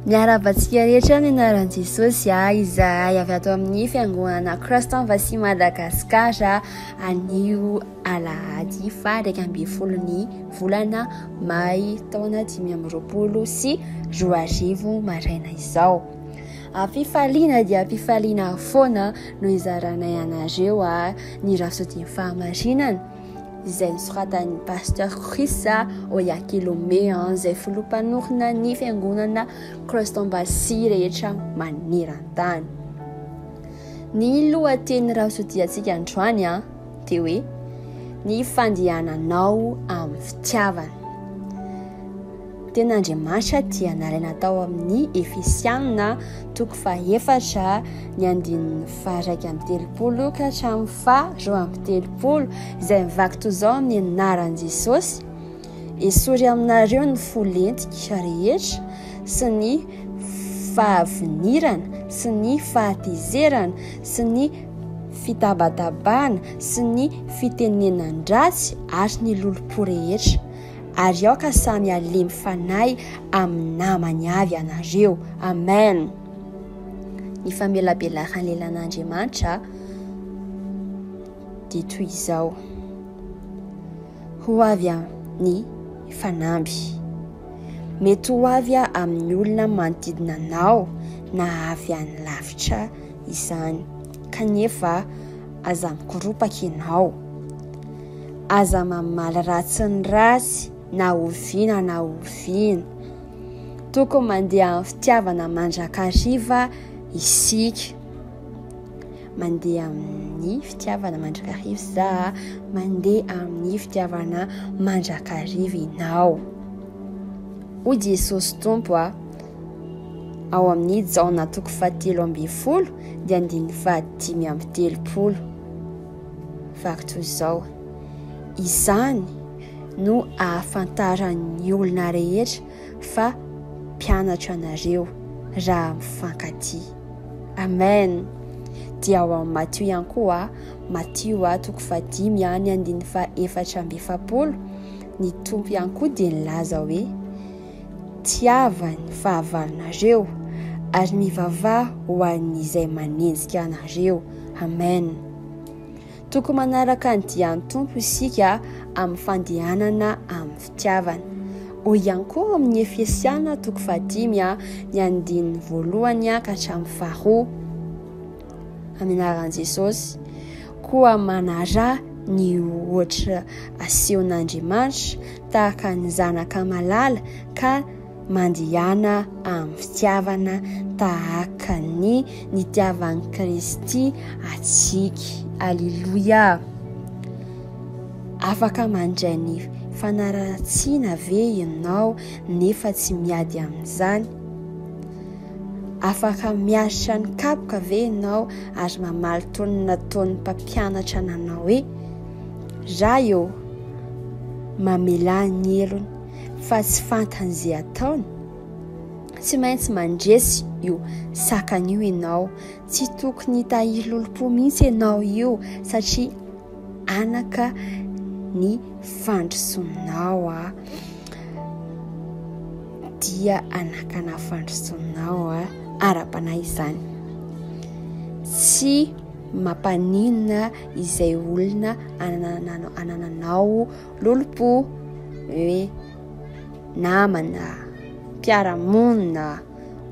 Miarabantsika rehetra ny anaran'i Jesosy ah, izahay avy ato amin'ny fiangonana Christ en Vassy Madagascar anio alahady fahairaika ambin'ny folo ny volana may taona dimy amby roapolo sy roa arivo maraina izao. Ampifaliana dia ampifaliana foana no izaranay anareo ah, ny rasotin-fahamarinana. izay nosoratan'ny Pasteur Chris Oyakilome izay filoham-panorina ny fiangonana Christ Embassy rehetra maneran-tany. Ny lohateny rahasotiantsika androany dia hoe ny fandehananao amin'ny fitiavana. Ny teny Andriamaritra dia nalaina tao amin'ny Efesiana toko fahefatra ny andininy faha-iraika amby telopolo ka hatramin'ny faha-roa amby telopolo izay mivaky toy izao amin'ny anaran'i Jesosy. Esory aminareo ny fo lentika rehetra sy ny fahavinirana sy ny fahatezerana sy ny fitabatabana sy ny fitenenan-dratsy ary ny lolompo rehetra. Ary aoka samy halemy fanahy amin'ny namany avy ianareo. Amen. Ny famelabelaran'ny lelan'Andriamanitra dia toy izao. Ho avy amin'ny fanamby. Mety ho avy amin'ny olona manodidina anao na avy any lavitra izany. Kanefa aza mikoropaka ianao. Aza mamaly ratsy ny ratsy na oviana na oviana. Tokony mandeha amin'ny fitiavana mandrakariva isika. Mandeha amin'ny fitiavana mandrakariva za, mandeha amin'ny fitiavana mandrakariva ianao. Hoy Jesosy Tompo a, ao amin'ny Jaona toko fahatelo ambin'ny folo dia andininy fahadimy amby telopolo. Vaky toy izao. Izany no ahafantaran'ny olona rehetra fa mpianatra anareo raha mifankatia. Amen. Dia ao amin'ny Matio ihany koa, Matio a toko fahadimy any andininy faha efatra amby efapolo, ny Tompo ihany koa dia nilaza hoe Tiava ny fahavalonareo, ary mivavaha ho an'izay manenjika anareo. Amen. Tokony manaraka ny dian'ny Tompo isika amin'ny fandehanana amin'ny fitiavana. Hoy ihany koa amin'ny Efesiana toko fahadimy ny andininy voalohany ka hatramin'ny faharoa. amin'ny anaran'i Jesosy. Koa manaraha ny ohatra asehon'Andriamanitra tahaka ny zanaka malala ka mandihana amin'ny fitiavana tahaka ny nitiavan'i Kristy antsika. Aleloia! Afaka mandray ny fanaratsiana ve ianao nefa tsy miady amin'izany? Afaka miaritra ny kapoka ve ianao ary mamaly toy ny nataon'ny mpampianatra nanao hoe Ray ô, mamelà ny helony fa tsy fantany izay ataony? Tsy maintsy mandresy io sakana io ianao, tsy tokony hitahiry lolompo mihitsy ianao io satria anaka ny fandrosonao a dia anakana fandrosonao a ara-panahy izany tsy mampaninona izay olona anananao anananao lolompo hoe namana mpiaramonina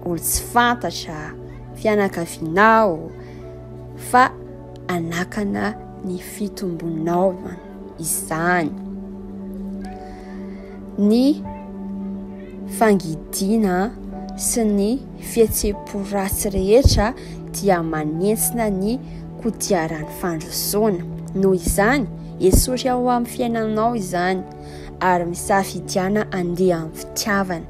olo tsy fantatra fianakavinao fa hanakana ny fitombonaovana izany. Ny fangidiana sy ny fihetseham-po ratsy rehetra dia manentsina ny kodiaran'ny fandrosoana. Noho izany, esory ao amin'ny fiainanao izany ary misafidiana andeha amin'ny fitiavana.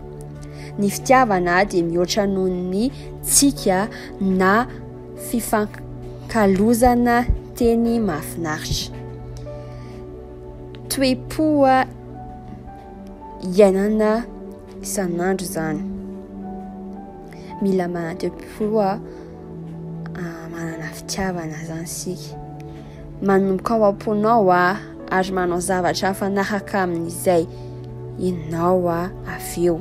Ny fitiavana dia mihoatra noho ny tsika na fifankalozana teny mahafinaritra, toe-po iainana isan'andro izany. Mila manana toe-po manana fitiavana izany isika. Manomboka ao am-ponao ary manao zavatra mifanaraka amin'izay ianao avy eo.